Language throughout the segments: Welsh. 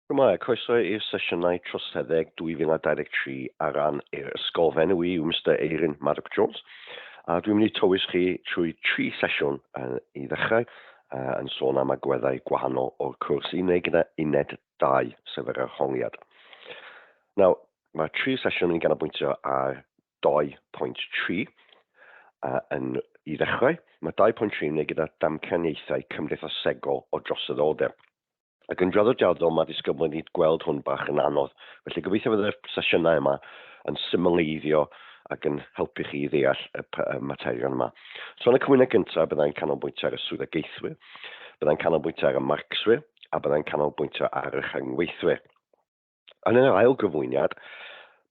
Shwmae, croeso i'r sesiynau troseddeg 2023 ar ran yr ysgol. Fy enw i yw Mister Eirin Maddock Jones, a dwi'n mynd i tywys chi trwy tri sesiwn uh, i ddechrau, uh, yn sôn am agweddau gwahanol o'r cwrs i wneud gyda uned 2, sef yr arholiad. Nawr, mae tri sesiwn yn ganolbwyntio ar 2.3, uh, yn i ddechrau, mae 2.3 yn ei gyda damcaniaethau cymdeithasegol o droseddoldeb. Ac yn draddodiadol, mae disgybl wedi gweld hwn bach yn anodd, felly gobeithio fydde'r sesiynau yma yn symleiddio ac yn helpu chi i ddeall y materion yma. So yn y cwmynau gyntaf, byddai'n canolbwyntio ar y swyddogaethwyr, byddai'n canolbwyntio ar y marcswyr, a byddai'n canolbwyntio ar y rhyngweithwyr. Yn yr ail gyflwyniad,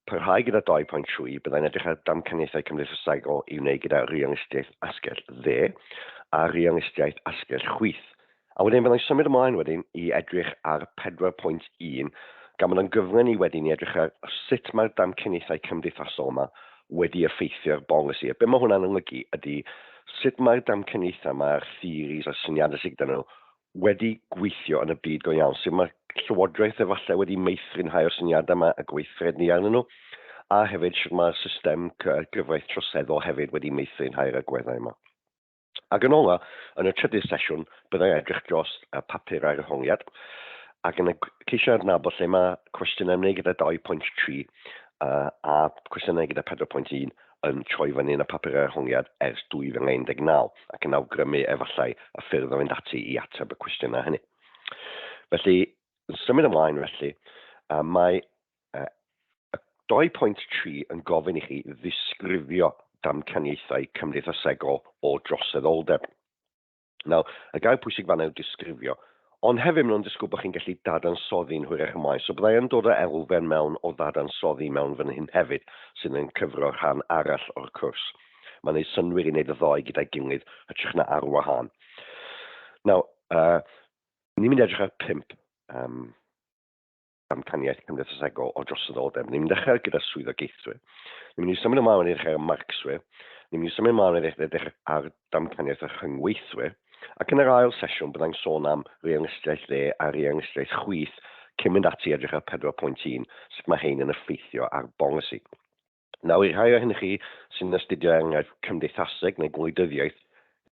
parhau gyda 2.3, byddai'n edrych ar damcaniaethau cymdeithasegol i wneud gyda realistiaeth asgell dde a realistiaeth asgell chwith. A wedyn byddai'n symud ymlaen wedyn i edrych ar 4.1, gan bod o'n gyfle ni wedyn i edrych ar sut mae'r damcaniaethau cymdeithasol yma wedi effeithio'r bolisi. A be mae hwnna'n olygu ydy sut mae'r damcaniaethau, mae'r theories a'r syniadau sydd gyda nhw wedi gweithio yn y byd go iawn, sydd mae Llywodraeth efallai wedi meithrin rhai o'r syniadau yma a gweithred ni arnyn nhw, a hefyd sydd mae'r system gyfraith troseddol hefyd wedi meithrin rhai o'r agweddau yma. Ac yn ola, yn y trydydd sesiwn, byddai edrych dros y papur ar ehongiad, ac yn y ceisio adnabod lle mae cwestiynau ymwneud gyda 2.3 a cwestiynau gyda 4.1 yn troi fyny yn y papurau arholiad ers 2019 ac yn awgrymu efallai y ffyrdd o fynd ati i ateb y cwestiynau hynny. Felly, yn symud ymlaen felly, mae 2.3 yn gofyn i chi ddisgrifio damcaniaethau cymdeithasegol o droseddoldeb. Nawr, y gair pwysig fanna yw disgrifio. Ond hefyd maen nhw'n disgwyl bod chi'n gallu dadansoddi'n hwyrach y maes, so byddai yn dod o elfen mewn o ddadansoddi mewn fan hyn hefyd, sydd yn cyfro rhan arall o'r cwrs. Mae'n gwneud synwyr i wneud y ddoe gyda'i gilydd, hytrach na ar wahân. Nawr, uh, ni'n mynd edrych ar pimp. Um, damcaniaeth cymdeithasegol o droseddoldeb. Ni'n mynd i ddechrau gyda swyddogaethwyr. Ni'n mynd i symud ymlaen wedyn ddechrau ar marcswyr. Ni'n mynd i symud ymlaen wedyn ddechrau ar damcaniaeth a rhyngweithwyr. Ac yn yr ail sesiwn, byddai'n sôn am reangrystiaeth dde a reangrystiaeth chwith cyn mynd ati i edrych ar 4.1, sut mae hein yn effeithio ar bolisi. Nawr, i'r rhai ohonyn chi sy'n astudio enghraifft cymdeithaseg neu gwleidyddiaeth,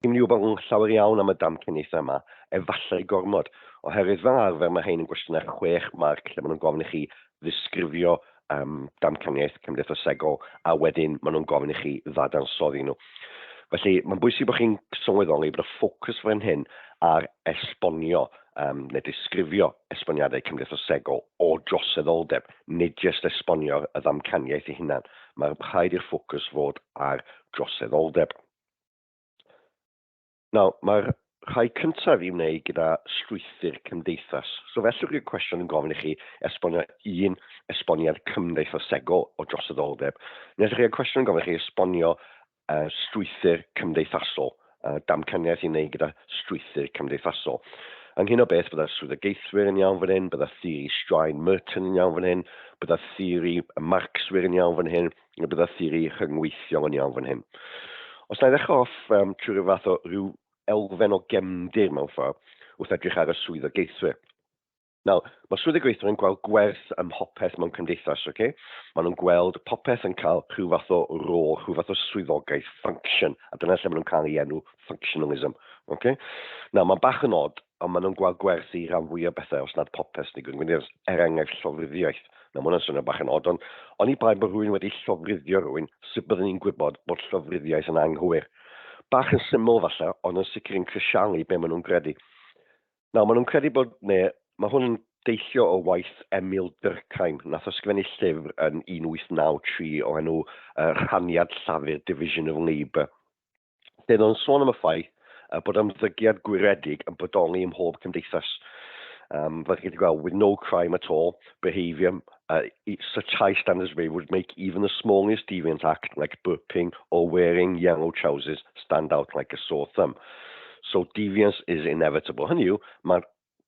rydym ni wybod yn llawer iawn am y damcaniaethau yma, efallai gormod, oherwydd fel arfer mae rhain yn gwestiynau chwech marc lle maen nhw'n gofyn i chi ddisgrifio um, damcaniaeth cymdeithasegol a wedyn maen nhw'n gofyn i chi ddadansoddi nhw. Felly, mae'n bwysig bod chi'n sylweddoli bod y ffocws fan hyn ar esbonio um, neu disgrifio esboniadau cymdeithasegol o droseddoldeb, nid jest esbonio y ddamcaniaeth ei hunan, mae rhaid i'r ffocws fod ar droseddoldeb. Nawr, mae'r rhai cyntaf i wneud gyda strwythur cymdeithas. So fellwch i'r cwestiwn yn gofyn i chi esbonio un esboniad cymdeithasegol o droseddoldeb, neu ydych chi'r cwestiwn yn gofyn i chi esbonio uh, strwythur cymdeithasol, uh, damcaniaeth i wneud gyda strwythur cymdeithasol. Ynghyn o beth, bydda'r swyddogaethwyr yn iawn fan hyn, bydda theori straen Merton yn iawn fan hyn, bydda theori Marxwyr yn iawn fan hyn, a bydda theori rhyngweithiol yn iawn fan hyn. Os na i ddechrau off um, trwy rhyw fath o rhyw elfen o gemdir mewn ffordd wrth edrych ar y swyddogaethwyr. Nawr, mae swyddi gweithwyr yn gweld gwerth ym mhopeth mewn cymdeithas, ok? Maen nhw'n gweld popeth yn cael rhyw fath o rôl, rhyw fath o swyddogaeth, function, a dyna lle maen nhw'n cael ei enw functionalism, ok? Nawr, mae'n bach yn od, ond maen nhw'n gweld gwerth i ran fwy o bethau, os nad popeth sy'n digwydd yn gwneud, er enghraifft llofruddiaeth. Nawr, mae hwnna'n swnio bach yn od, ond oni bai bod rhywun wedi llofruddio rhywun, sut byddwn ni'n gwybod bod llofruddiaeth yn anghywir? Bach yn syml falle, ond yn sicr yn crisialu be maen nhw'n gredu. Nawr, maen nhw'n credu bod, ne, mae hwn yn deillio o waith Emil Durkheim, nath ysgrifennu llyfr yn 1893 o enw uh, Rhaniad Llafur, Division of Labour, lle oedd o'n sôn am y ffaith uh, bod ymddygiad gwiredig yn bodoli ym mhob cymdeithas. Um, fel chi wedi gweld, with no crime at all, behaviour Uh, such high standards way would make even the smallest deviant act like burping or wearing yellow trousers stand out like a sore thumb. So deviance is inevitable. Hynny yw, mae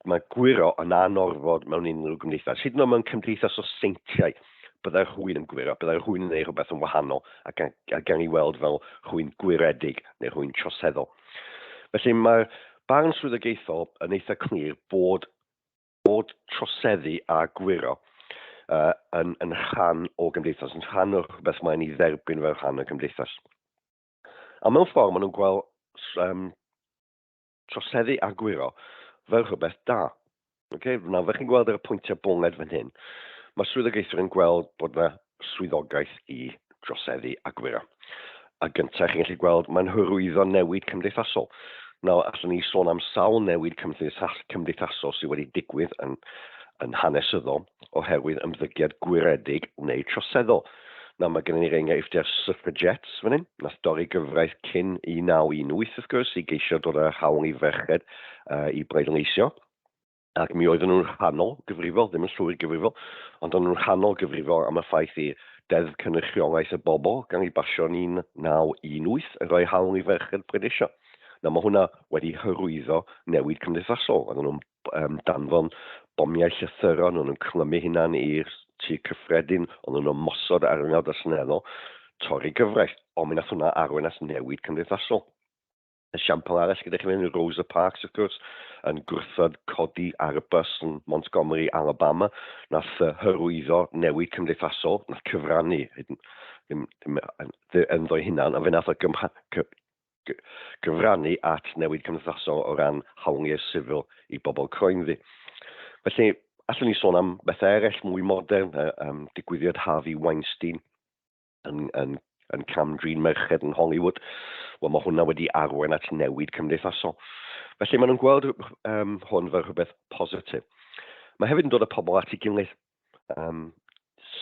ma gwyro yn anorfod mewn unrhyw gymdeithas. Hyd yn oed mewn cymdeithas o seintiau, byddai'r rhywun yn gwyro, byddai'r rhywun yn ei rhywbeth yn wahanol a gan, a gan ei weld fel rhywun gwiredig neu rhywun troseddol. Felly mae'r barn swyddogaethol yn eitha clir bod bod troseddu a gwyro uh, yn, yn rhan o gymdeithas, yn rhan o'r rhywbeth mae'n ei dderbyn fel rhan o gymdeithas. A mewn ffordd, maen nhw'n gweld um, troseddu a gwyro fel rhywbeth da. Okay? Nawr, fe chi'n gweld ar y pwyntiau bonged fan hyn, mae swyddogaethwyr yn gweld bod yna swyddogaeth i droseddu a gwyro. A gyntaf, chi'n gallu gweld, mae'n hyrwyddo newid cymdeithasol. Nawr, allwn ni sôn am sawl newid cymdeithasol sydd wedi digwydd yn, yn hanesyddol oherwydd ymddygiad gwyredig neu troseddol. Nawr, mae gennym ni'r enghraifft ar suffragettes fan hyn, nath dorri gyfraith cyn 1918, wrth gwrs, i geisio dod â'r hawl i ferched uh, i bleidleisio. ac mi oedden nhw'n rhannol gyfrifol, ddim yn llwyr gyfrifol, ond o'n nhw'n rhannol gyfrifol am y ffaith i Deddf Cynrychiolaeth y Bobl gan ei basio yn 1918 yn rhoi hawl i ferched pleidleisio. Nawr mae hwnna wedi hyrwyddo newid cymdeithasol. Oedden nhw'n um, danfon bomiau llythyron, oedden nhw'n clymu hunan i'r tu cyffredin, oedden nhw'n mosod ar yngawd a seneddol, torri gyfraith, ond mi nath hwnna arwain at newid cymdeithasol. Esiampl arall gyda chi fan hyn yw Rosa Parks, wrth gwrs, yn gwrthod codi ar y bus yn Montgomery, Alabama, nath yy hyrwyddo newid cymdeithasol, nath cyfrannu, hyd yn- ddim, ddim yn- ddi- ynddo'i hunan, ond fe nath o gymha- cy- gy- gyfrannu at newid cymdeithasol o ran hawliau sifil i bobl croenddu. Felly, allwn ni sôn am bethau eraill mwy modern, y um, digwyddiad Harvey Weinstein, yn, yn, yn cam-drin merched yn Hollywood, wel mae hwnna wedi arwain at newid cymdeithasol. Felly maen nhw'n gweld um, hwn fel rhywbeth positif. Mae hefyd yn dod â pobl at ei gilydd. Um,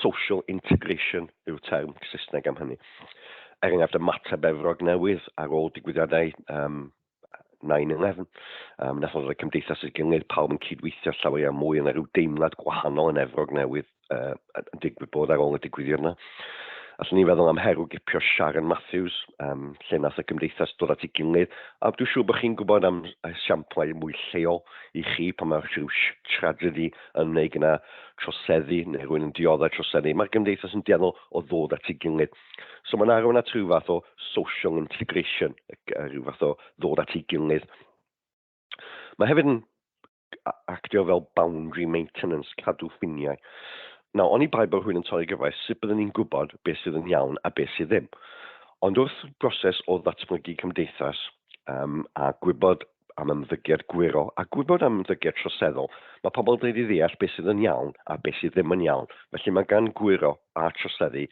social integration yw'r term Saesneg am hynny. Er enghraifft, y mater befrog newydd ar ôl digwyddiadau um, 9-11. Um, nath o'n rhoi cymdeithas y gyngor, pawb yn cydweithio llawer iawn mwy, yna rhyw deimlad gwahanol yn efrog newydd uh, yn digwydd bod ar ôl y digwyddiad yna. Allwn ni feddwl am herw gipio Sharon Matthews, um, lle nath y cymdeithas dod at ei gilydd, a dwi'n siŵr bod chi'n gwybod am siamplau mwy lleol i chi pan mae rhyw tragedy yn wneud gyda troseddu neu rhywun yn dioddau troseddu. Mae'r gymdeithas yn dueddol o ddod at ei gilydd. So mae'n arwain at rhyw fath o social integration, rhyw fath o ddod at ei gilydd. Mae hefyd yn actio fel boundary maintenance, cadw ffiniau. Nawr, oni bai bod rhywun yn torri gyfraith, sut byddwn ni'n gwybod beth sydd yn iawn a beth sydd ddim? Ond wrth broses o ddatblygu cymdeithas um, a gwybod am ymddygiad gwyro a gwybod am ymddygiad troseddol, mae pobl yn dweud i ddeall beth sydd yn iawn a beth sydd ddim yn iawn, felly mae gan gwyro a troseddu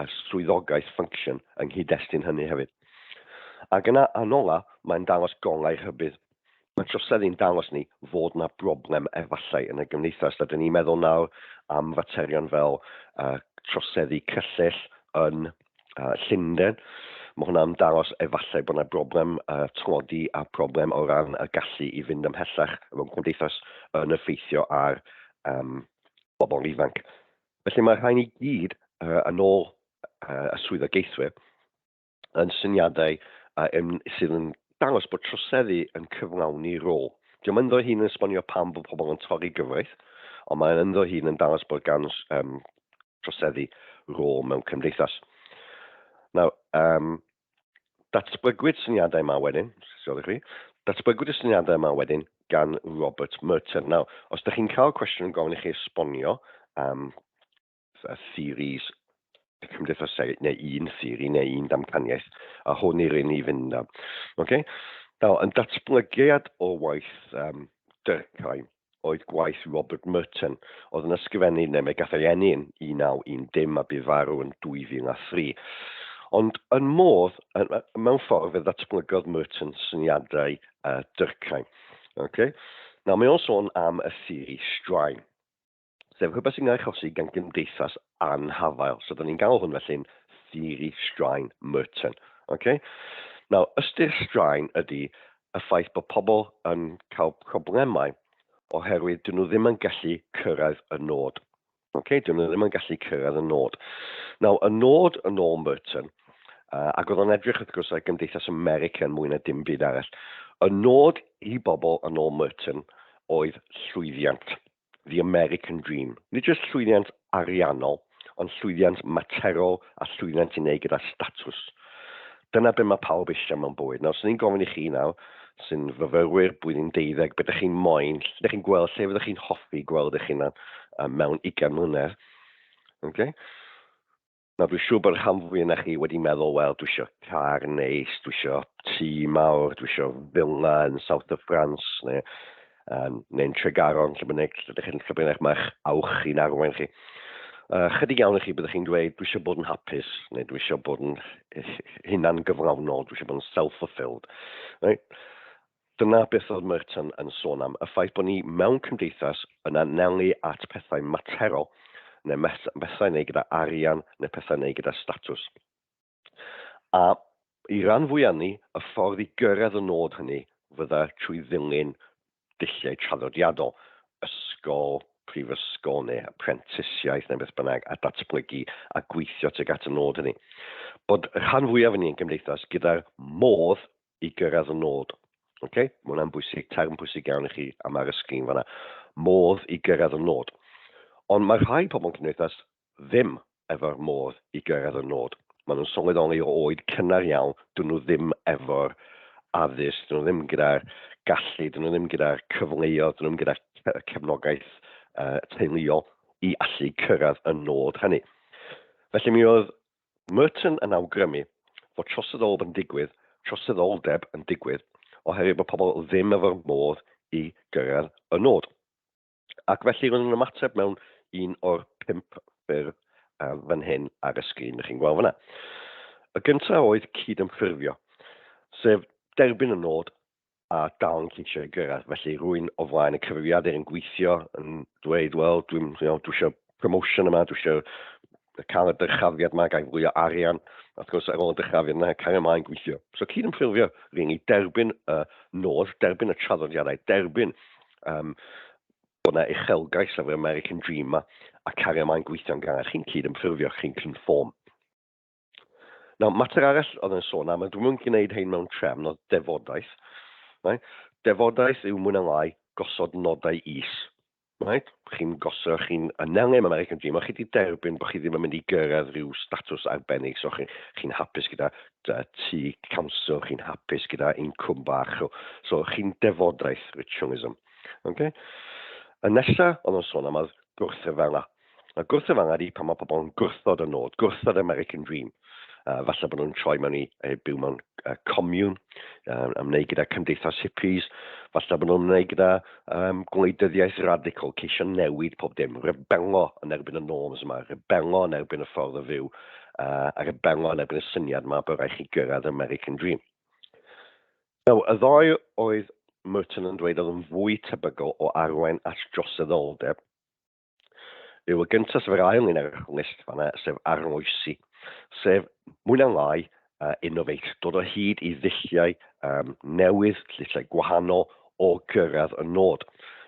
a swyddogaeth ffyncsiwn yng nghyd-destun hynny hefyd. Ac yna, yn ola, mae'n dangos golau rhybudd. Mae troseddu'n dangos ni fod yna broblem efallai yn y gymdeithas. Rydyn ni'n meddwl nawr am faterion fel uh, troseddu cyllell yn uh, Llundain. Mae hwnna'n dangos efallai bod yna broblem uh, tlodi a broblem o ran y gallu i fynd ymhellach mewn cymdeithas yn effeithio ar um, bobl ifanc. Felly mae rhain i gyd uh, yn ôl uh, y swyddogaethwyr yn syniadau uh, yn, sydd yn dangos bod troseddu yn cyflawni rôl. Dwi'n mynd o'r hun yn esbonio pam bod pobl yn torri gyfraith, ond mae'n ynddo hun yn dangos bod gan um, troseddu rôl mewn cymdeithas. Nawr, um, datblygwyd syniadau yma wedyn, sgol i chi, datblygwyd y syniadau yma wedyn gan Robert Merton. Nawr, os ydych chi'n cael cwestiwn yn gofyn i chi esbonio um, y theories y cymdeithaseg, neu un theori neu un damcaniaeth, a hwn i'r un i fynd am. Okay? Nawr, yn datblygiad o waith um, Durkheim, oedd gwaith Robert Merton, oedd yn ysgrifennu neu mae gath ei eni yn 1910 a bu farw yn 2003. Ond yn modd, mewn ffordd, fe ddatblygodd Merton syniadau uh, Durkheim. Okay? Nawr, mae o'n sôn am y theori straen. Sef rhywbeth sy'n cael ei achosi gan gymdeithas anhafael. So, da ni'n galw hwn felly'n theori straen Merton. Okay? Nawr, ystyr straen ydy y ffaith bod pobl yn cael problemau oherwydd dyn nhw ddim yn gallu cyrraedd y nod. Okay? Dyn nhw ddim yn gallu cyrraedd y nod. Nawr, y nod yn ôl Merton, uh, ac oedd o'n edrych wrth gwrs ar gymdeithas America yn mwy na dim byd arall, y nod i bobl yn ôl Merton oedd llwyddiant. The American Dream. Nid jyst llwyddiant ariannol, ond llwyddiant materol a llwyddiant i wneud gyda statws. Dyna be mae pawb eisiau mewn bywyd. Nawr, swn i'n gofyn i chi nawr, sy'n fyfyrwyr, blwyddyn deuddeg, be dych chi'n moyn, lle dych chi'n gweld, lle fyddwch chi'n hoffi gweld eich hunan mewn ugain mlynedd? Okay? Nawr dwi'n siŵr bod y rhan fwy yna chi wedi meddwl, wel, dwi eisiau car neis, dwi eisiau tŷ mawr, dwi eisiau villa yn South of France, neu, um, neu'n Tregaron, lle bynnag, lle ydych chi'n lle bynnag mae'ch awch i'n arwain chi. Uh, chydig iawn i chi byddwch chi'n dweud, dwi eisiau bod yn hapus, neu dwi eisiau bod yn hunan gyflawnol, dwi eisiau bod yn self-fulfilled. Right? Dyna beth oedd Merton yn sôn am, y ffaith bod ni mewn cymdeithas yn anelu at pethau materol, neu bethau i wneud gyda arian, neu pethau i wneud gyda statws. A i ran fwyaf ni, y ffordd i gyrraedd y nod hynny fydda trwy ddilyn dulliau traddodiadol, ysgol, prifysgol, neu aprentisiaeth, neu beth bynnag, a datblygu a gweithio tuag at y nod hynny. Bod rhan fwyaf o ni yn gymdeithas gyda'r modd i gyrraedd y nod. Okay? Mae hwnna'n bwysig, term bwysig iawn i chi am ar y sgrin fanna. Modd i gyrraedd y nod. Ond mae rhai pobl yn cymdeithas ddim efo'r modd i gyrraedd y nod. Maen nhw'n sylweddoli o oed cynnar iawn, dyn nhw ddim efo'r addysg, dyn nhw ddim gyda'r gallu, dyn nhw ddim gyda'r cyfleoedd, dyn nhw ddim gyda'r cefnogaeth uh, teuluol i allu cyrraedd y nod hynny. Felly mi oedd Merton yn awgrymu fod troseddoldeb yn digwydd, troseddoldeb yn digwydd oherwydd bod pobl ddim efo'r modd i gyrraedd y nod. Ac felly roedd yn ymateb mewn un o'r pump ffyrdd fan hyn ar y sgrin dych chi'n gweld fan'na. Y gyntaf oedd cyd-ymffurfio, sef derbyn y nod a dal yn ceisio ei gyrraedd. Felly rwy'n o flaen y cyfrifiadur yn gweithio, yn dweud, wel, dwi'n you know, dwi eisiau promotion yma, dwi eisiau cael y dyrchafiad yma, gael fwy o arian. A wrth gwrs, ar ôl y dyrchafiad yna, cael ymlaen gweithio. So cyd yn ffurfio, rwy'n ei derbyn y nod, derbyn y traddodiadau, derbyn um, bod yna uchelgais ar yr American Dream yma, a cario ymlaen gweithio'n gan. Chi'n cyd yn ffurfio, chi'n conform. Nawr, mater arall oedd yn sôn am, a dwi'n mynd gwneud hyn mewn trefn oedd defodaeth. Right? Defodaeth yw mwyn lai gosod nodau is. Right? Chi'n gosod, chi'n anelu am American Dream, a chi wedi derbyn bod chi ddim yn mynd i gyrraedd rhyw statws arbennig, so chi'n chi hapus gyda tu council, chi'n hapus gyda incwm bach, so, so chi'n defodaeth, ritualism. Okay? Y nesaf oedd yn sôn am oedd gwrthryfel a Mae gwrthod angad i pan mae pobl yn gwrthod y nod, gwrthod yr American Dream. Uh, falle bod nhw'n troi mewn i uh, byw mewn uh, comiwn, uh, ymwneud gyda cymdeithas hippies, falle bod nhw'n ymwneud gyda um, gwleidyddiaeth radical, ceisio newid pob dim, rebelo yn erbyn y norms yma, rebelo yn erbyn y ffordd o fyw, uh, a rebelo yn erbyn y syniad yma bod rhaid chi gyrraedd yr American Dream. Now, y ddoi oedd Merton yn dweud oedd yn fwy tebygol o arwain at droseddoldeb Rhyw y gyntaf sef yr ail un ar y list fanna, sef arloesi, sef mwy na'n lai uh, innovate, dod o hyd i ddulliau um, newydd, llysau gwahanol o gyrraedd y nod.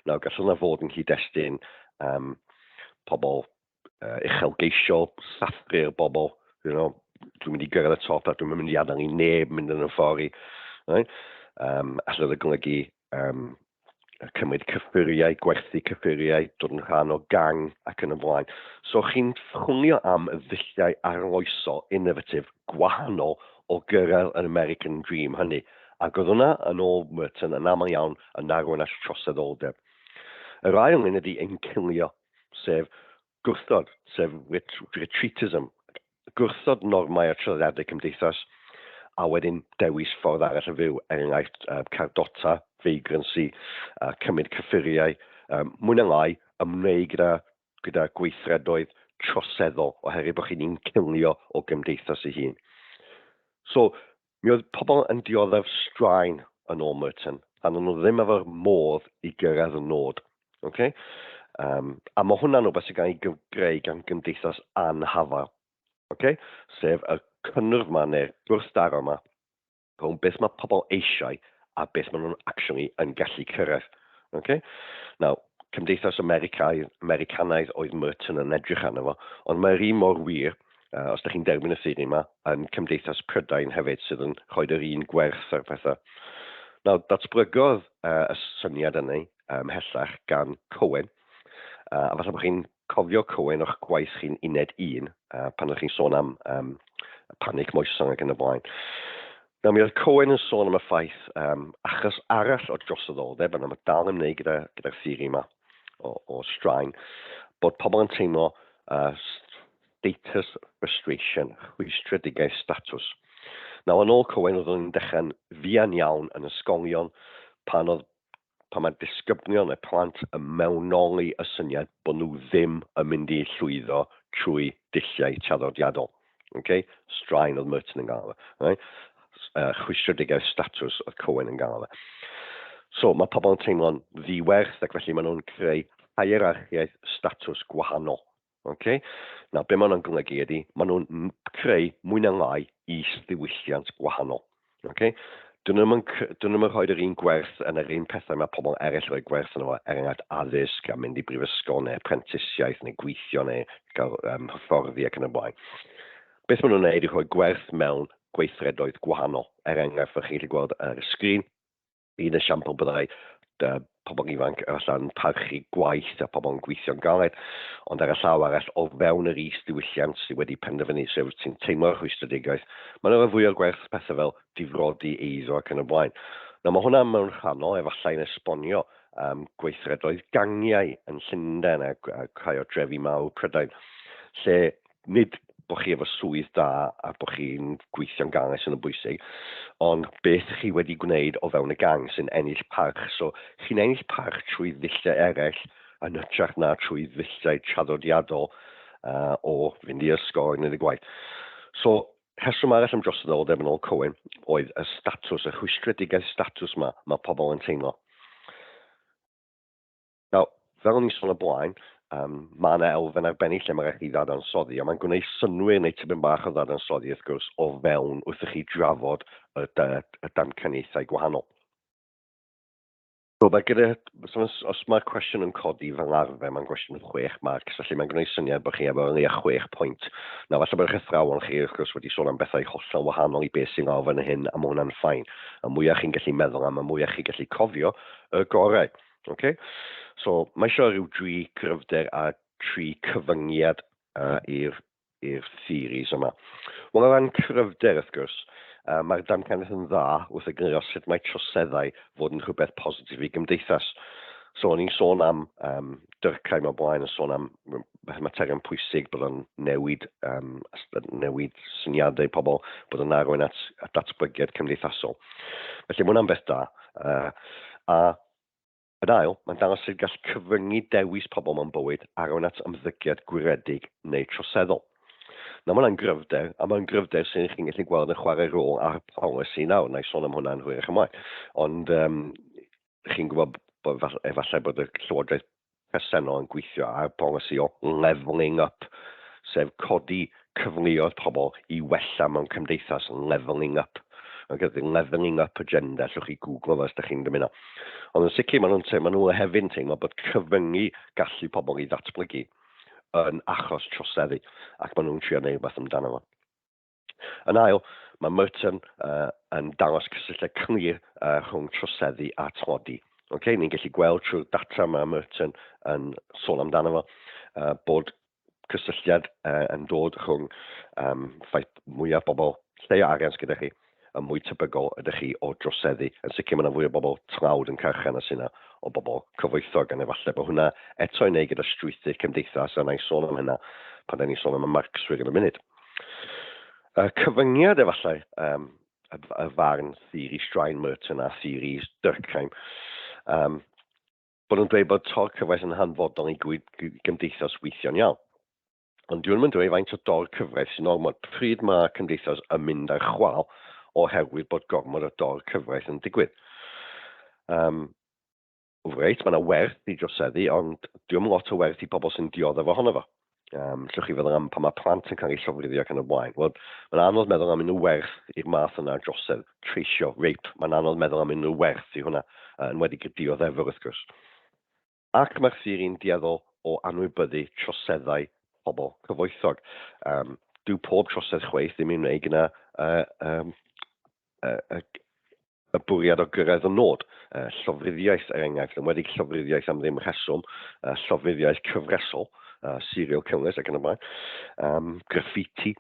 Nawr, gallwn yna fod yn cyd-destun um, pobl uh, uchelgeisiol, sathru'r bobl, you know, dwi'n mynd i gyrraedd y top a dwi'n mynd i adael i neb mynd yn y ffordd i. Right? Um, allwn y golygu um, cymryd cyffuriau, gwerthu cyffuriau, dod yn rhan o gang ac yn y blaen. So chi'n chwnio am y ddulliau arloesol, innovatif, gwahanol o gyrraedd yr American Dream hynny. Ac oedd hwnna, yn ôl Merton, yn aml iawn yn arwain at troseddoldeb. Yr ail un ydy ein cilio, sef Gwrthod, sef retreatism, gwrthod normau a traddiadau cymdeithas, a wedyn dewis ffordd arall o fyw, er enghraifft cardota, vagrancy, cymryd cyffuriau, mwy neu lai ymwneud gyda gyda gweithredoedd troseddol oherwydd bod chi'n incilio o gymdeithas ei hun. So, Mi oedd pobl yn dioddef straen yn ôl Merton, a nhw ddim efo'r modd i gyrraedd y nod. Okay? Um, a mae hwnna'n rhywbeth sy'n cael ei gyfgreu gan gymdeithas anhafael. Okay? Sef y cynnwrf yma neu'r gwrthdaro yma rhwng beth mae pobl eisiau a beth maen nhw'n actually yn gallu cyrraedd. Okay? Now, cymdeithas Americaidd, Americanaidd oedd Merton yn edrych arno fo, ond mae'r un mor wir uh, os ydych chi'n derbyn y ffydd ni yma, yn Cymdeithas Prydain hefyd sydd yn rhoi yr un gwerth ar pethau. Nawr, datblygodd uh, y syniad yna um, hellach gan Cowen, uh, a falle bod chi'n cofio Cowen o'ch gwaith chi'n uned un, uh, pan ydych chi'n sôn am um, panic moesong ac yn y blaen. Na, mi oedd Cohen yn sôn am y ffaith um, achos arall o drosodoldeb, yna mae dal yn ymwneud gyda'r gyda theori yma o, o straen, bod pobl yn teimlo uh, Status Frustration, Rhwystredigaeth Statws. Nawr, yn ôl Cowen, roeddwn i'n dechrau'n fuan iawn yn ysgolion pan oedd pan mae disgyblion y plant yn mewnoli y syniad bod nhw ddim yn mynd i llwyddo trwy dulliau traddodiadol. Okay? Straen oedd Merton yn gael fe. Right? Uh, chwistredigaeth statws oedd Cohen yn gael fe. So, mae pobl yn teimlo'n ddiwerth ac felly maen nhw'n creu hierarchiaeth statws gwahanol. Ok, nawr be mae hwnna'n golygu ydy, maen nhw'n creu mwy na lai is-ddiwylliant gwahanol. Ok, Dyn nhw'n nhw rhoi yr un gwerth yn yr un pethau mae pobl eraill rhoi gwerth yn fo, er enghraifft addysg a mynd i brifysgol neu prentisiaeth neu gweithio neu gael um, hyfforddi ac yn y blaen. Beth maen nhw'n gwneud i rhoi gwerth mewn gweithredoedd gwahanol. Er enghraifft, fel chi'n gallu gweld ar y sgrin, un esiampl byddai uh, pobl ifanc allan parchu gwaith a pobl yn gweithio'n galed, ond ar y llaw arall o fewn yr is-ddiwylliant sydd wedi penderfynu sef sy'n teimlo'r rhwystredigaeth, mae'n yna fwy o gwerth pethau fel difrodi eiddo ac yn y blaen. Nawr mae hwnna mewn rhannol efallai'n esbonio um, gweithredoedd gangiau yn Llundain a, a rhai o drefi mawr Prydain, lle nid bod chi efo swydd da a bod chi'n gweithio'n gang sydd yn bwysig, ond beth chi wedi gwneud o fewn y gang sy'n ennill parch. So, chi'n ennill parch trwy ddulliau eraill yn hytrach na trwy ddulliau traddodiadol uh, o fynd i ysgol a gwneud y gwaith. So, rheswm arall am droseddoldeb yn ôl Cohen oedd y statws, y rhwystredigaeth statws mae, mae pobl yn teimlo. Nawr, fel o'n i'n sôn o blaen, um, mae yna elfen arbennig lle mae rhaid i ddadansoddi, a mae'n gwneud synwyr neu tipyn bach o ddadansoddi, wrth gwrs, o fewn wrth i chi drafod y, y damcaniaethau gwahanol. Roedd gyda, os, os mae'r cwestiwn yn codi fel arfer, mae'n gwestiwn 6 marc, felly mae'n gwneud syniad bod chi efo yn leia 6 pwynt. Na, falle bod eich athrawon chi, wrth gwrs, wedi sôn am bethau hollol wahanol i beth sy'n lawr fan hyn, a mae hwnna'n ffain. Y mwyaf chi'n gallu meddwl am, y mwyaf chi'n gallu cofio, y gorau. Okay? So, mae eisiau rhyw dri cryfder a tri cyfyngiad uh, i'r i'r theories yma. Wel, o ran cryfder, wrth gwrs, uh, mae'r damcaniaeth yn dda wrth egluro sut mae troseddau fod yn rhywbeth positif i gymdeithas. So, o'n i'n sôn am um, dyrcau mewn blaen, yn sôn am mae mater yn pwysig bod o'n newid, um, newid syniadau pobl, bod o'n arwain at, at datblygiad cymdeithasol. Felly mae hwnna'n beth da. Uh, a yn ail, mae'n dangos sydd gall cyfyngu dewis pobl mewn bywyd arwain at ymddygiad gwiredig neu troseddol. Na, mae hwnna'n gryfder, a mae'n gryfder sy'n chi'n gallu gweld yn chwarae rôl ar polisi nawr, na i sôn am hwnna'n hwyrach ymlaen. Ond um, chi'n gwybod bod efallai bod y llywodraeth presennol yn gweithio ar bolisi o levelling up, sef codi cyfleoedd pobl i wella mewn cymdeithas levelling up. Ac ydy levelling up agenda, llwch chi Google os ydych chi'n dymuno. Ond yn sicr, maen nhw'n teimlo, maen nhw hefyd yn teimlo bod cyfyngu gallu pobl i ddatblygu yn achos troseddu, ac maen nhw'n trio gwneud rhywbeth amdano fo. Yn ail, mae Merton uh, yn dangos cysylltiad clir uh, rhwng troseddu a tlodi. Okay, ni'n gallu gweld trwy'r data mae Merton yn sôn amdano fo uh, bod cysylltiad uh, yn dod rhwng um, ffaith mwyaf bobl lle o arian gyda chi y mwy tebygol ydych chi o droseddu. Yn sicr mae yna fwy o bobl tlawd yn carchan a sy'n yna o bobl cyfoethog, gan efallai bod hwnna eto'n ei gyda strwythu cymdeithas, a na i sôn am hynna pan da ni'n sôn am y marcswyr yn y munud. Y cyfyngiad efallai, um, y, y farn theori Strain Merton a theori Durkheim, um, bod nhw'n dweud bod tor cyfraith yn hanfodol i gymdeithas weithio'n iawn. Ond dwi'n mynd dweud faint o dor cyfraith sy'n ormod pryd mae cymdeithas yn mynd ar chwal oherwydd bod gormod o dor cyfraith yn digwydd. Um, Reit, mae yna werth i droseddu, ond diolch yn lot o werth i pobl sy'n dioddef ohono fo. Um, llwch chi feddwl am pan mae plant yn cael eu llofruddio ac yn y blaen. Wel, mae'n anodd meddwl am unrhyw werth i'r math yna o drosedd, treisio, rape, mae'n anodd meddwl am unrhyw werth i hwnna, uh, yn wedi y dioddefwr wrth gwrs. Ac mae'r theori'n dueddol o anwybyddu troseddau pobl cyfoethog. Um, dyw pob trosedd chweith ddim yn ei gyna uh, um, uh, uh, Y bwriad o gyrraedd y nod, y llofruddiaeth er enghraifft, enwedig llofruddiaeth am ddim rheswm, y llofruddiaeth cyfresol, uh, serial killers ac yn y blaen, um, graffiti.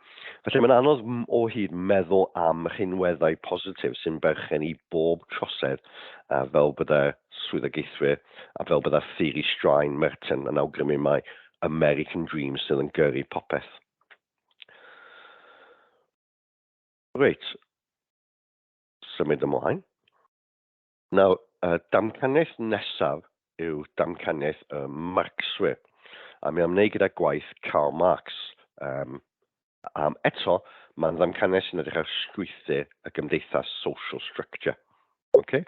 Felly mae'n anodd o hyd meddwl am rhinweddau positif sy'n berchen i bob trosedd a fel byddai'r swyddogaethwyr a fel byddai'r theori straen Merton yn awgrymu mai American Dream sydd yn gyrru popeth. Reit. symud ymlaen. Nawr, y damcaniaeth nesaf yw damcaniaeth y Marxwyr, a mi am wneud gyda gwaith Karl Marx. Um, um, eto, mae'n ddamcaniaeth sy'n edrych ar strwythur y gymdeithas social structure. Okay?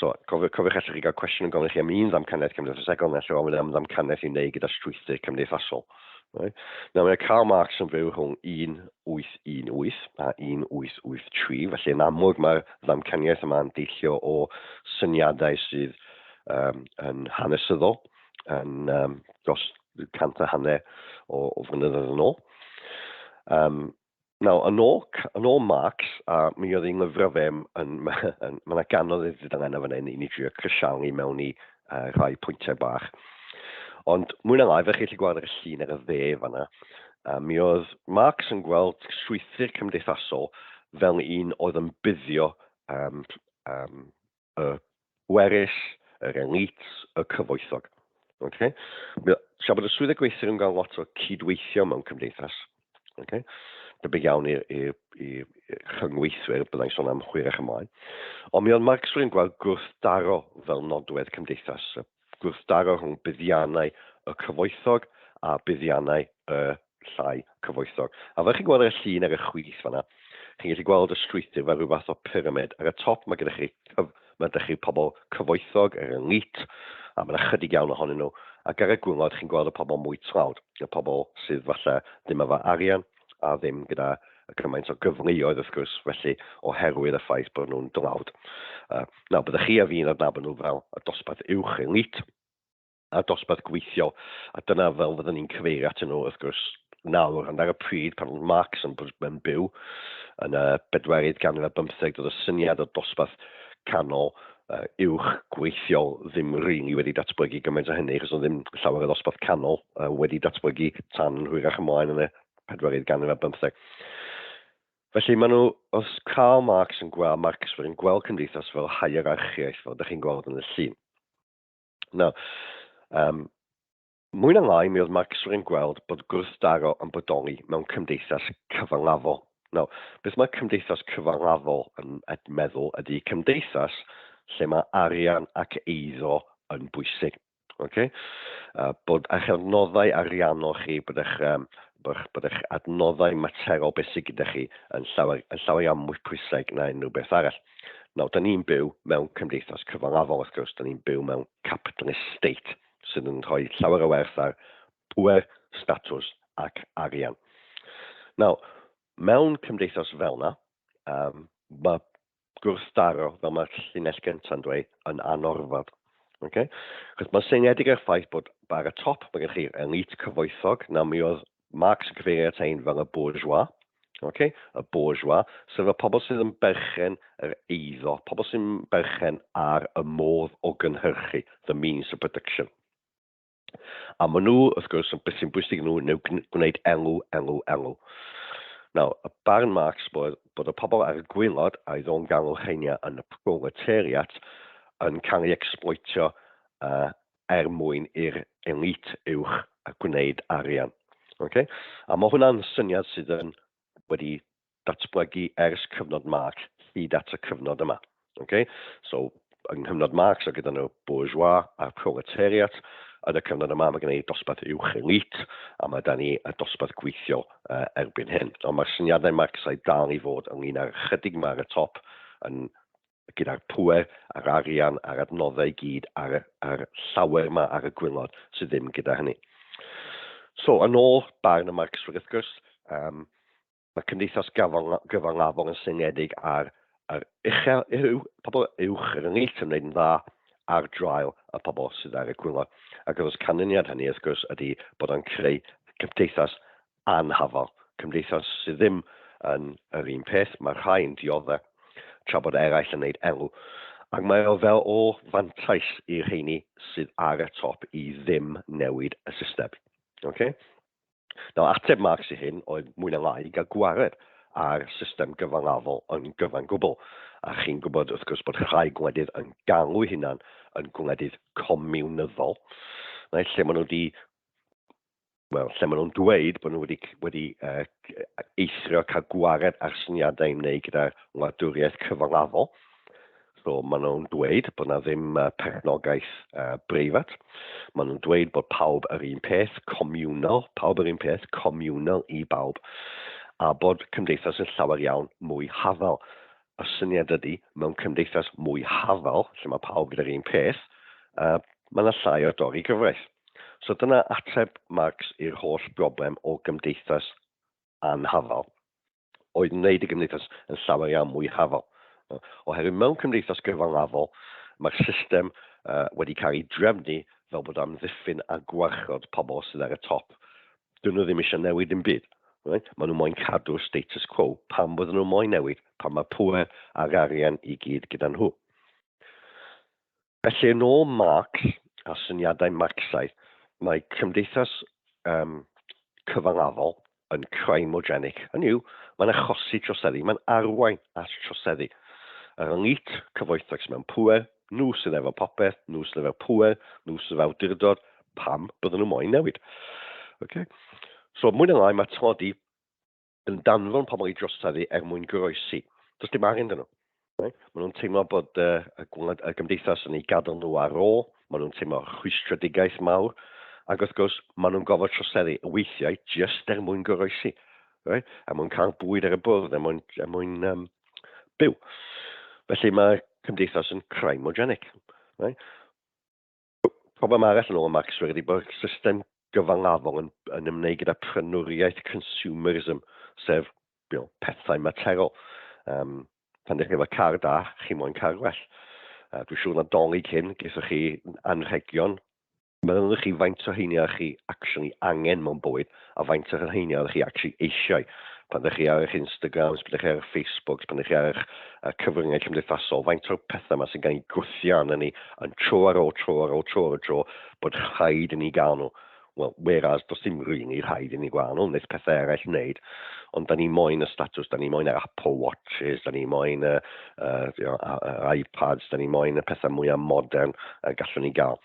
So, cofiwch, cofiwch allwch chi gael cwestiwn yn gofyn chi am un ddamcaniaeth cymdeithasegol neu allwch ofyn am ddamcaniaeth i wneud gyda strwythur cymdeithasol. Right. Nawr mae Karl Marx yn byw rhwng 1818 a 1883, felly yn amlwg mae'r ddamcaniaeth yma'n deillio o syniadau sydd um, yn hanesyddol, yn um, dros cant a hanner o, o flynyddoedd yn ôl. Um, Nawr, yn ôl, yn ôl Marx, a mi oedd ei lyfrau fe, yn, mae yna ganodd ei ddidangana fan hyn i ni drio crisialu mewn i uh, rhai pwyntiau bach. Ond mwy na lai, fe chi chi gweld ar y llun ar y dde fanna, a mi oedd Marx yn gweld strwythur cymdeithasol fel un oedd yn buddio um, um, y gweryll, yr elite, y cyfoethog. Okay? Tra bod y swyddau gweithwyr yn cael lot o cydweithio mewn cymdeithas, okay? debyg iawn i'r i, i, i chyngweithwyr, byddai'n sôn am hwyrach ymlaen. Ond mi oedd Marx yn gweld gwrthdaro fel nodwedd cymdeithas y gwrthdaro rhwng buddiannau y cyfoethog a buddiannau y llai cyfoethog. A fel chi'n gweld ar y llun ar y chwith fanna, chi'n gallu gweld y strwythur fel rhyw fath o pyramid. Ar y top mae gyda chi, cyf, mae gyda chi pobl cyfoethog, yr elite, a mae'n ychydig iawn ohonyn nhw. Ac ar y gwngod, chi'n gweld y pobl mwy tlawd, y pobl sydd falle ddim efo arian, a ddim gyda gymaint o gyfleoedd wrth gwrs, felly oherwydd y ffaith bod nhw'n dlawd. Uh, nawr, byddwch chi a fi'n adnabod nhw fel y dosbarth uwch elit, a dosbarth gweithiol, a dyna fel fyddwn ni'n cyfeirio at nhw wrth gwrs nawr, ond ar y pryd pan oedd Marx yn, yn byw yn y bedwerydd ganrif ar bymtheg, doedd y syniad o dosbarth canol uwch gweithiol ddim rili wedi datblygu gymaint o hynny, achos oedd ddim llawer o ddosbarth canol uh, wedi datblygu tan yn hwyrach ymlaen yn y pedwerydd ganrif ar bymtheg. Felly maen nhw, os Karl Marx yn gweld, Marx yn gweld cymdeithas fel hierarchiaeth, fel ydych chi'n gweld yn y llun. Nawr, um, Mwy na lai, mi oedd Marxwyr yn gweld bod gwrthdaro yn bodoli mewn cymdeithas cyfangafol. Nawr, beth mae cymdeithas cyfangafol yn meddwl ydy cymdeithas lle mae arian ac eiddo yn bwysig. Okay? Uh, bod eich adnoddau ariannol chi, bod eich, um, bod eich adnoddau materol beth sydd gyda chi yn llawer, yn llawer iawn mwy pwysig na unrhyw beth arall. Nawr, da ni'n byw mewn cymdeithas cyfangafol, wrth gwrs, da ni'n byw mewn capitalist state. sydd yn rhoi llawer o werth ar bŵer, statws ac arian. Nawr, mewn cymdeithas fel yna, um, mae gwrthdaro, fel mae'r llinell gyntaf yn dweud, yn anorfod. Okay? Chos mae'n seiniedig ar ffaith bod bar y top, mae gennych chi elite cyfoethog, na mi oedd Marx yn cyfeirio at ein fel y bourgeois, okay? y bourgeois, sef y pobl sydd yn berchen yr eiddo, pobl sy'n berchen ar y modd o gynhyrchu, the means of production. A maen nhw, wrth gwrs, yn beth sy'n bwysig nhw, neu gwneud elw, elw, elw. Nawr, y barn Marx bod, bod y pobl ar y gwylod a'i ddo'n galw cheinia yn y proletariat yn cael ei exploitio uh, er mwyn i'r elît uwch gwneud arian. Ok? A mae hwnna'n syniad sydd yn wedi datblygu ers cyfnod Marx hyd at y cyfnod yma. Ok? So, yng nghyfnod Marx o gyda nhw bourgeois a'r proletariat, yn y cyfnod yma mae gen i dosbarth uwch elît a mae da ni y dosbarth gweithiol uh, erbyn hyn. Ond mae'r syniadau Marxaidd dal i fod ynglyn â'r chydig yma ar y top yn gyda'r pŵer a'r arian a'r adnoddau i gyd ar y, a'r llawer yma ar y gwylod sydd ddim gyda hynny. So, yn ôl barn y Marxwyr wrth gwrs, um, mae cymdeithas gyfangafol yn syngedig ar yr uchel yw pobl uwch yr ynghylch yn gwneud yn dda ar draul y pobl sydd ar y gwylod. Ac wrth canlyniad hynny, wrth gwrs, ydy bod o'n creu cymdeithas anghofal. Cymdeithas sydd ddim yn yr un peth, mae rhai yn diodde, tra bod eraill yn neud elw. Ac mae o fel o fantais i'r rheini sydd ar y top i ddim newid y system. Oce? Nawr, ateb Marx i hyn oedd mwy na lai gael gwared ar system gyfangafol yn gyfan gwbl. A chi'n gwybod, wrth gwrs, bod rhai gwledydd yn galw'u hunan yn gwledydd comiwnyddol, reit, lle maen nhw wedi wel, lle maen nhw'n dweud bod nhw wedi, wedi uh, eithrio cael gwared ar syniadau i wneud gyda wladwriaeth cyfalafol. So maen nhw'n dweud bod yna ddim uh, perchnogaeth uh, breifat. Maen nhw'n dweud bod pawb yr un peth, comiwnol, pawb yr un peth, comiwnol i bawb, a bod cymdeithas yn llawer iawn mwy hafal. Y syniad ydy, mewn cymdeithas mwy hafal, lle mae pawb gyda'r un peth, uh, mae yna llai o dorri gyfraith. So dyna ateb Marx i'r holl broblem o gymdeithas anhafal, oedd wneud y gymdeithas yn llawer iawn mwy hafal. Oherwydd mewn cymdeithas gyfalafol, mae'r system uh, wedi cael ei drefnu fel bod am ddiffyn a gwarchod pobl sydd ar y top. Dyn nhw ddim eisiau newid yn byd. Right? Maen nhw moyn cadw'r status quo. Pam bod nhw moyn newid? Pan mae pwer a'r arian i gyd gyda nhw. Felly, yn ôl Mark a syniadau Marcsaidd, mae cymdeithas um, cyfangafol yn crimogenic. Hynny yw, mae'n achosi troseddu, mae'n arwain at troseddu. Yr elite cyfoethog mewn pwer, nhw sydd efo popeth, nhw sydd efo pwer, nhw sydd efo awdurdod, pam byddwn nhw moyn newid. Okay? So, mwy na lai, mae tlodi yn danfon pobl i drosedd i er mwyn goroesi. Does dim arian dyn nhw. Right? Maen nhw'n teimlo bod uh, y, gwlad, y gymdeithas yn ei gadael nhw ar ôl, maen nhw'n teimlo rhwystredigaeth mawr, ac wrth gwrs, maen nhw'n gofod troseddu y weithiau jyst er mwyn goroesi, right? er mwyn cael bwyd ar y bwrdd, er mwyn, er mwyn um, byw. Felly mae cymdeithas yn crymogenic. Right? Problem arall yn ôl Maxwell ydy bod system gyfangafol yn, yn ymwneud gyda prynwriaeth consumerism, sef you know, pethau materol. Um, pan ddech chi efo car da, chi moyn car gwell. Uh, dwi'n siŵr na dolyg hyn, geithoch chi anrhegion. Mae'n chi faint o heini a chi actually angen mewn bywyd, a faint o rheiny oeddech chi actually eisiau. Pan ydych chi ar eich Instagrams, pan ydych chi ar eich Facebooks, pan ydych chi ar eich uh, cyfryngau cymdeithasol, faint o'r pethau yma sy'n cael ei gwthio arnyn ni yn tro ar ôl tro ar ôl tro ar ôl tro bod rhaid i ni gael nhw. Wel, whereas, does dim rili really rhaid i ni gael nhw, wneud pethau eraill wneud, ond da ni moyn y status, da ni moyn yr Apple Watches, da ni moyn y, uh, you know, iPads, da ni moyn y pethau mwyaf modern y gallwn ni gael.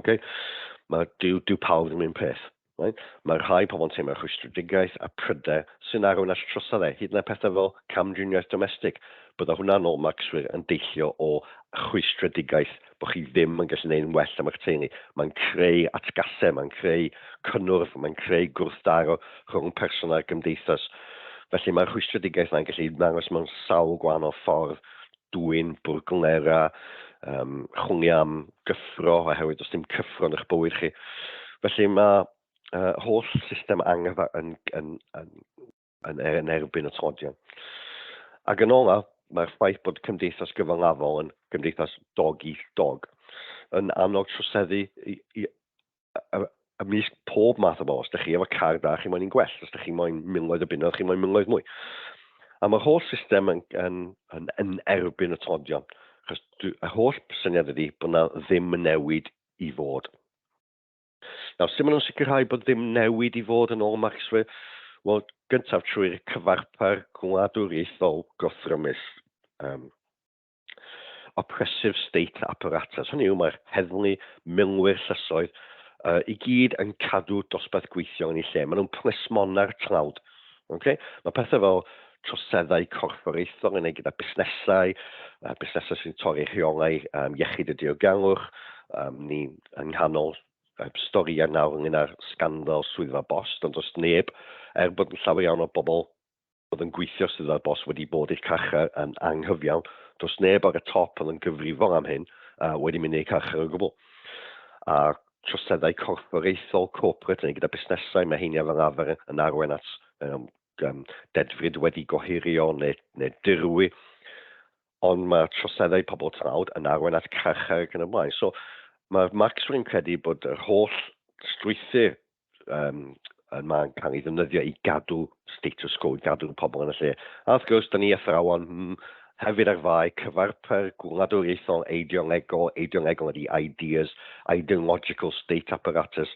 Okay? Mae, dyw, dyw pawb ddim un peth. Right? Mae rhai pobl yn teimlo rhwystredigaeth a pryder sy'n arwain at trosedd e, hyd yn oed pethau fel camdriniaeth domestig. Bydda hwnna'n ôl Maxwyr yn deillio o rhwystredigaeth bod chi ddim yn gallu gwneud yn well am eich teulu. Mae'n creu atgasau, mae'n creu cynnwrf, mae'n creu gwrthdaro rhwng person a'r gymdeithas. Felly mae'r rhwystredigaeth yna'n gallu dangos mewn sawl gwahanol ffordd dwyn, bwrglnera, um, chwni am gyffro, oherwydd does dim cyffro yn eich bywyd chi. Felly mae uh, holl system angerdd yn, yn, yn, yn, er, yn erbyn y todion. Ac yn ola, mae'r ffaith bod cymdeithas gyfangafol yn gymdeithas dog eat dog yn annog troseddu i, i, ymysg pob math o bobl. Os ydych chi efo car da, chi moyn i'n gwell. Os ydych chi moyn miloedd o bunnoedd, chi moyn miloedd mwy. A mae'r holl system yn, yn, yn, yn erbyn y todion. Chos y holl syniad ydy bod yna ddim newid i fod. Nawr, sy'n mynd nhw'n sicrhau bod ddim newid i fod yn ôl Maxwell? Wel, gyntaf trwy'r cyfarpar gwladwriaethol gothrymus. Um, oppressive state apparatus, hynny yw mae'r heddlu, milwyr llysoedd, uh, i gyd yn cadw dosbarth gweithio yn ei lle. Maen nhw'n plismona'r tlawd. Okay? Mae pethau fel troseddau corfforaethol yn ei gyda busnesau, uh, busnesau sy'n torri rheolau um, iechyd y diogelwch. Um, ni yng nghanol uh, storiau nawr ynglyn â'r sgandal swyddfa bost, ond os neb, er bod yn llawer iawn o bobl oedd yn gweithio sydd ar bos wedi bod i'r carchar yn anghyfiawn. Does neb ar y top oedd yn gyfrifol am hyn a wedi mynd i'r carchar o gwbl. A troseddau corfforaethol, corporate, neu gyda busnesau, mae heiniau fel arfer yn arwain at um, um, dedfryd wedi gohirio neu, neu dirwy ond mae troseddau pobl tlawd yn arwain at carchar ac yn y blaen. So, mae'r Marxwyr yn credu bod yr holl strwythyr um, yn ma'n cael ei ddefnyddio i gadw status quo, i gadw pobl yn y lle. A wrth gwrs, da ni athrawon hmm, hefyd ar fai cyfarpar gwladwriaethol eidiongegol, eidiongegol ydy ideas, ideological state apparatus.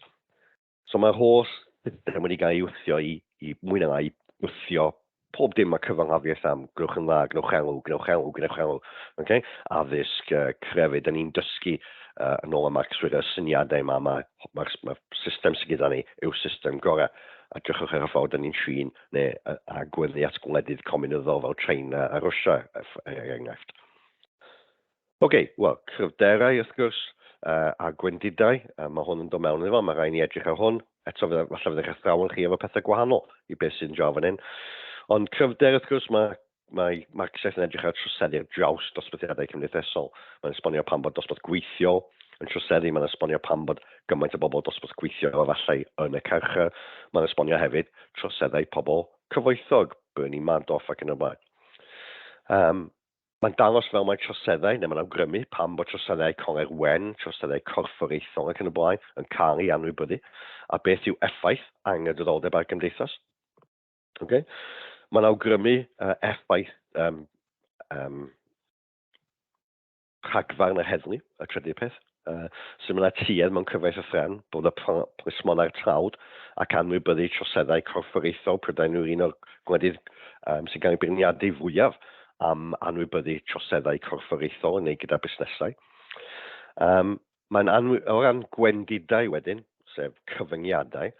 So mae'r holl system wedi cael ei wthio i, i mwy na lai wthio pob dim mae cyfanghafiaeth am, gwnewch yn dda, gwnewch elw, gwnewch elw, gwnewch elw, okay? addysg, uh, crefydd, da ni'n dysgu uh, yn ôl am Max Swigger, y syniadau yma, mae'r ma, ma, ma system sydd gyda ni yw system gorau. A drychwch ar y ffordd da ni'n trin neu agweddu at gwledydd cominyddol fel China a Rwysia, er, er enghraifft. Ok, wel, cryfderau wrth gwrs, a gwendidau, a mae hwn yn dod mewn iddo fo, mae rhaid ni edrych ar hwn. Eto, falle fydd eich athrawon chi efo pethau gwahanol i beth sy'n draw fan hyn. Ond cryfder, wrth gwrs, mae mae Marxaeth yn edrych ar troseddu'r draws dosbarthiadau cymdeithasol. Mae'n esbonio pan bod dosbarth gweithiol yn troseddu, mae'n esbonio pan bod gymaint o bobl dosbarth gweithio o fathau yn y carchar, mae'n esbonio hefyd troseddau pobl cyfoethog, Bernie Madoff ac yn y blaen. Um, Mae'n dangos fel mae troseddau, neu mae'n awgrymu pam bod troseddau coleg wen, troseddau corfforaethol ac yn y blaen, yn cael ei anwybyddu, a beth yw effaith anghydraddoldeb ar gymdeithas. Okay? Mae'n awgrymu uh, effaith um, um, rhagfarn yr heddlu, y trydydd peth. Uh, sy'n mynd tuedd mewn cyfraith a thran, bod y plismonau'r trawd ac anwybyddu troseddau corfforaethol Prydain yw'r un o'r gwledydd um, sy'n cael ei beirniadu fwyaf am anwybyddu troseddau corfforaethol yn ei gyda busnesau. Um, mae'n anwy... O ran gwendidau wedyn, sef cyfyngiadau,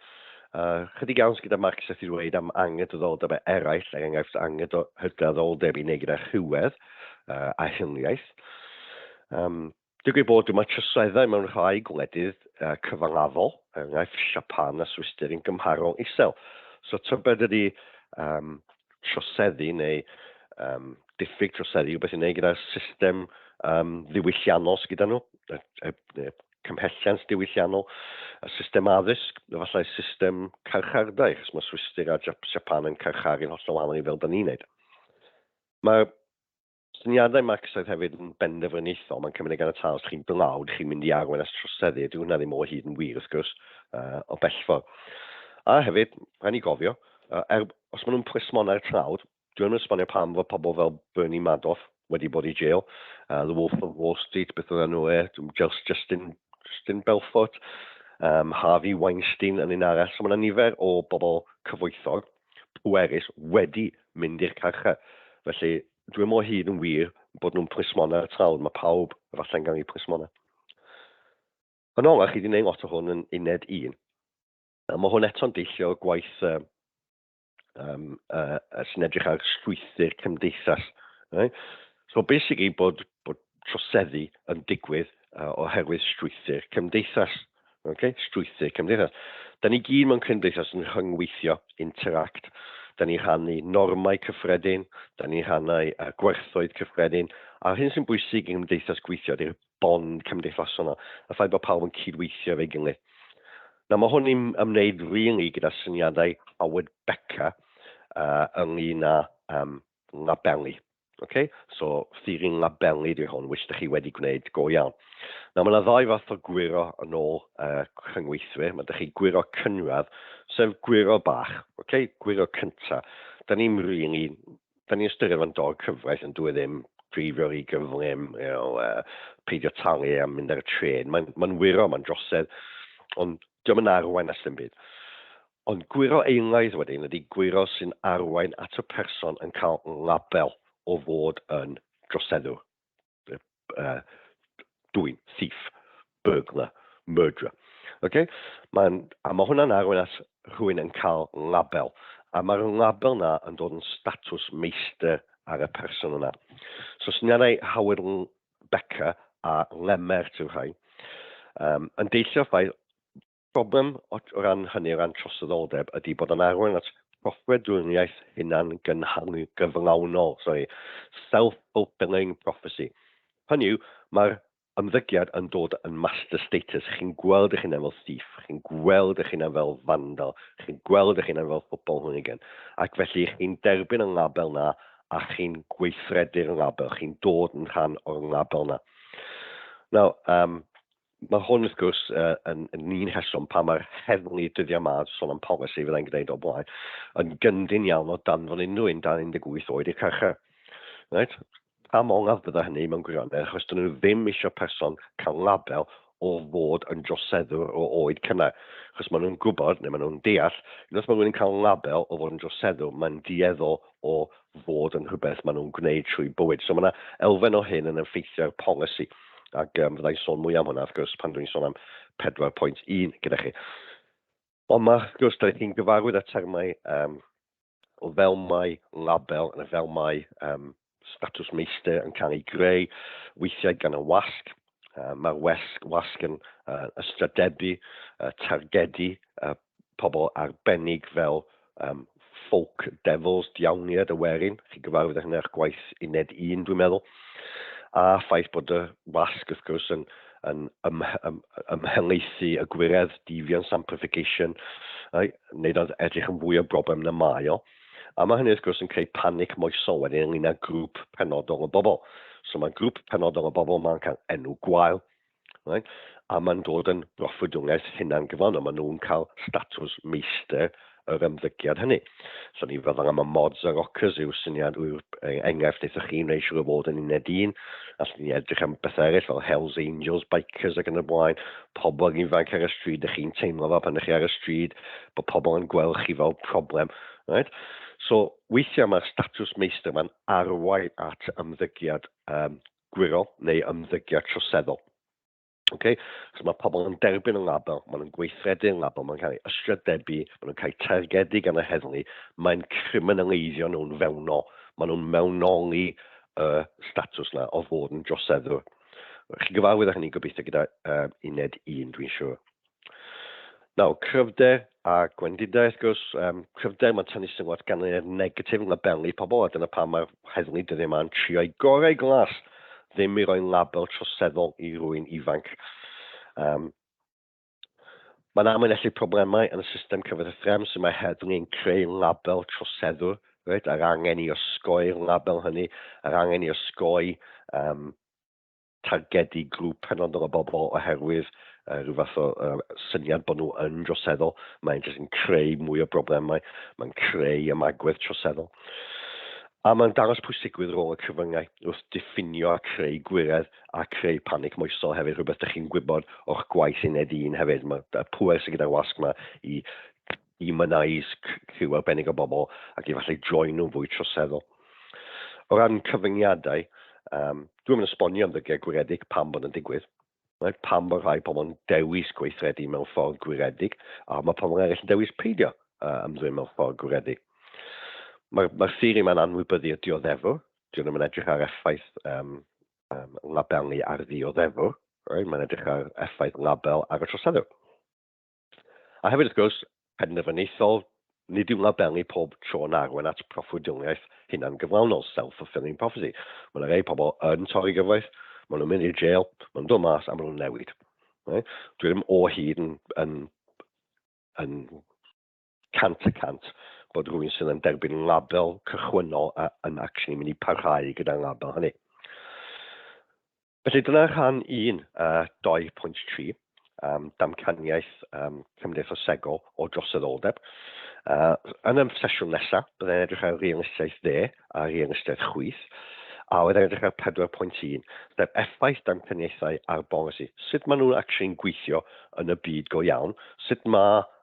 uh, chydig iawn gyda Mark Seth i ddweud am angydraddoldebau eraill, er enghraifft angydraddoldeb i wneud gyda rhywedd uh, a hiliaeth. Um, Digwydd bod dyma troseddau mewn rhai gwledydd cyfangafol, er enghraifft Siapan a Swistir yn gymharol isel. So tybed ydy um, troseddu neu um, diffyg troseddu rhywbeth i wneud gyda'r system um, ddiwylliannol sydd gyda nhw, y, y, y cymhelliant diwylliannol, y system addysg, efallai system carchardai, chos mae Swistir a Japan yn carcharu'n holl wahanol i fel da ni'n neud. Mae Syniadau Max oedd hefyd yn benderfyniaethol, mae'n cymryd yn ganiataol os chi'n blawd, chi'n mynd i arwain at troseddu, dyw hwnna ddim o hyd yn wir wrth gwrs, uh, o bellfor. A hefyd, rhaid ni gofio, uh, er, os maen nhw'n plismon ar trawd, dwi'n yn esbonio pam fod pobl fel Bernie Madoff wedi bod i jail, uh, The Wolf of Wall Street, beth oedd nhw e, Just Justin, Justin Belfort, um, Harvey Weinstein yn un arall. So mae yna nifer o bobl cyfoethog pwerus wedi mynd i'r carchar. Felly, dwi ddim o hyd yn wir bod nhw'n plismona ar y traul, mae pawb efallai'n gael eu plismona. Yn olaf, chi wedi gwneud lot o hwn yn uned un, a mae hwn eto'n deillio o gwaith uh, um, uh, sy'n edrych ar strwythyr cymdeithas. Right? So basically bod, bod troseddu yn digwydd uh, oherwydd strwythyr cymdeithas. Okay? Strwythyr cymdeithas. Da ni gyd mewn cymdeithas yn rhyngweithio, interact. Da ni rhannu normau cyffredin, da ni rhannu uh, gwerthoedd cyffredin, a'r hyn sy'n bwysig yng nghymdeithas gweithio ydy'r bond cymdeithasol yna, y ffaith bod pawb yn cydweithio efo'i gilydd. Na, mae hwn i'n ymwneud really gyda syniadau Howard Becker uh, ynglyn â um, labelu. Okay? So, ffyrin labelu di hwn, which ydych chi wedi gwneud go iawn. Nawr, mae yna ddau fath o gwiro yn ôl uh, cyngweithwyr. Mae ydych chi gwiro cynradd, sef gwiro bach, okay? gwiro cynta. Da ni'n really, da ni'n ystyried fo'n dog cyfraith yn dwi e ddim dreifio rhy gyflym, you know, uh, peidio talu a mynd ar y tren. Mae'n ma wiro, mae'n drosedd, ond diolch yn arwain at ddim byd. Ond gwyro eilaidd wedyn ydy gwyro sy'n arwain at y person yn cael label o fod yn droseddwr, dwyn, thief, burglar, murderer. Ok? Mae'n, a mae hwnna'n arwain at rhywun yn cael label. A mae'r label na yn dod yn statws meistr ar y person yna. So syniadau Howard Becker a Lemmert yw rhain. Um, yn deillio ffaith Problem o ran hynny, o ran troseddoldeb, ydy bod o'n arwain at broffwydoliaeth hunan-gynhaliol gyflawnol, sori, self-fulfilling prophecy. Hynny yw, mae'r ymddygiad yn dod yn master status, chi'n gweld eich hunan fel thief, chi'n gweld eich hunan fel vandal, chi'n gweld eich hunan fel football hooligan, ac felly chi'n derbyn y label na a chi'n gweithredu'r label, chi'n dod yn rhan o'r label na. Nawr, um, Mae hwn, wrth gwrs, yn un rheswm pam mae'r heddlu dyddiau 'ma, sôn am polisi, fydda i'n gwneud o blaen, yn gyndyn iawn o danfon unrhyw un dan 18 oed i'r carchar. Right? Pam ongaf bydda hynny mewn gwirionedd, achos dyn nhw ddim eisiau person cael label o fod yn droseddwr o oed cynnar. Achos maen nhw'n gwybod, neu maen nhw'n deall, unwaith mae rhywun yn cael label o fod yn droseddwr, mae'n dueddol o fod yn rhywbeth maen nhw'n gwneud trwy bywyd. So mae yna elfen o hyn yn effeithio ar polisi, ac um, fyddai'n sôn mwy am hwnna, wrth gwrs, pan dwi'n sôn am 4.1 gyda chi. Ond mae, wrth gwrs, da chi'n gyfarwydd â termau um, o fel mae label, yn y fel mae um, statws meistr yn cael ei greu, weithiau gan y wasg, Uh, Mae'r wasg, wasg yn uh, ystradebdu, uh, targedu uh, pobl arbennig fel um, folk devils, diawniad y werin. Chi'n gyfarwydd â hynny eich gwaith uned un, dwi'n meddwl. A ffaith bod y wasg, wrth gwrs, yn, yn ym, ym, ymhelaethu y gwiredd, difion, samplification, uh, neu edrych yn fwy o broblem na mae o. A mae hynny wrth gwrs yn creu panic moesol wedyn ynglyn â grŵp penodol o bobl. So mae grŵp penodol o bobl mae'n cael enw gwael, right? a mae'n dod yn broffwydoliaeth hunan gyflawn, a maen nhw'n cael statws meistr yr ymddygiad hynny. So ni fel yma, mae mods a rockers yw syniad yw'r e, enghraifft eithoch chi'n rei siŵr o fod yn uned un, allwn ni edrych am bethau eraill fel Hells Angels, Bikers ac yn y blaen, pobl ifanc ar y stryd, ydych chi'n teimlo fel pan ydych chi ar y stryd, bod pobl yn gweld chi fel problem. Right? So, weithiau mae'r statws meistr mae'n arwain at ymddygiad um, gwirol neu ymddygiad troseddol. Okay? So mae pobl yn derbyn yn label, maen nhw'n gweithredu yn label, maen nhw'n cael ei ysgrydebu, maen nhw'n cael ei targedu gan y heddlu, mae'n criminaleiddio nhw'n fewnol, maen nhw'n mewnoli y uh, statws na o fod yn droseddwr. Chi'n gyfarwydd â hynny gobeithio gyda uh, uned un, dwi'n siŵr. Nawr, cryfder a gwendidau, wrth gwrs, um, cryfder mae'n tynnu sylw at ganlyniad negatif yn labelu pobl, a dyna pam mae'r heddlu dyddiau yma yn trio i gorau glas ddim i roi label troseddol i rwy'n ifanc. Um, Mae'n amlinellu problemau yn y system cyfathrebu sy'n mae heddlu yn creu label troseddwr, right? a'r angen i osgoi'r label hynny, a'r angen i osgoi um, targedu grŵp penodol o bobl oherwydd uh, rhyw fath o uh, syniad bod nhw yn droseddol. Mae'n jyst yn creu mwy o broblemau, mae'n creu ymagwedd troseddol. A mae'n dangos pwysigrwydd rôl y cyfyngau wrth diffinio a creu gwiredd a creu panic moesol hefyd, rhywbeth ydych chi'n gwybod o'ch gwaith yn ed un hefyd. Mae pwer sy'n gyda'r wasg yma i i mynaeus criw arbennig o bobl ac i falle join nhw'n fwy troseddol. O ran cyfyngiadau, um, dwi'n mynd esbonio am ddygiau gwiredig pam bod yn digwydd, right? pam bod rhai pobl yn dewis gweithredu mewn ffordd gwiredig a mae pobl eraill yn dewis peidio uh, ymddwyn mewn ffordd gwiredig. Mae'r mae theori mae'n anwybyddu y dioddefwr, dwi'n ddim yn edrych ar effaith um, um, labelu ar ddioddefwr, right? mae'n edrych ar effaith label ar y troseddwr. A hefyd, wrth gwrs, penderfyniaethol, nid yw'n labelu pob tro yn arwain at proffwydioliaeth hunangyflawnol, self-fulfilling prophecy. Mae yna rei pobl yn torri gyfraith, maen nhw'n mynd i'r jail, maen nhw'n dod mas a maen nhw'n newid. Right? Dwi ddim o hyd yn, yn, yn cant y cant bod rhywun sydd yn derbyn label cychwynnol a, yn actually mynd i parhau gyda'r label hynny. Felly dyna rhan 1, uh, 2.3, um, damcaniaeth um, cymdeithasegol o droseddoldeb. Uh, yn y sesiwn nesaf, byddai'n edrych ar realistiaeth dde a realistiaeth chwith, a oedd edrych ar 4.1, sef effaith dan cyniaethau ar bolisi. Sut maen nhw'n actually'n gweithio yn y byd go iawn, sut mae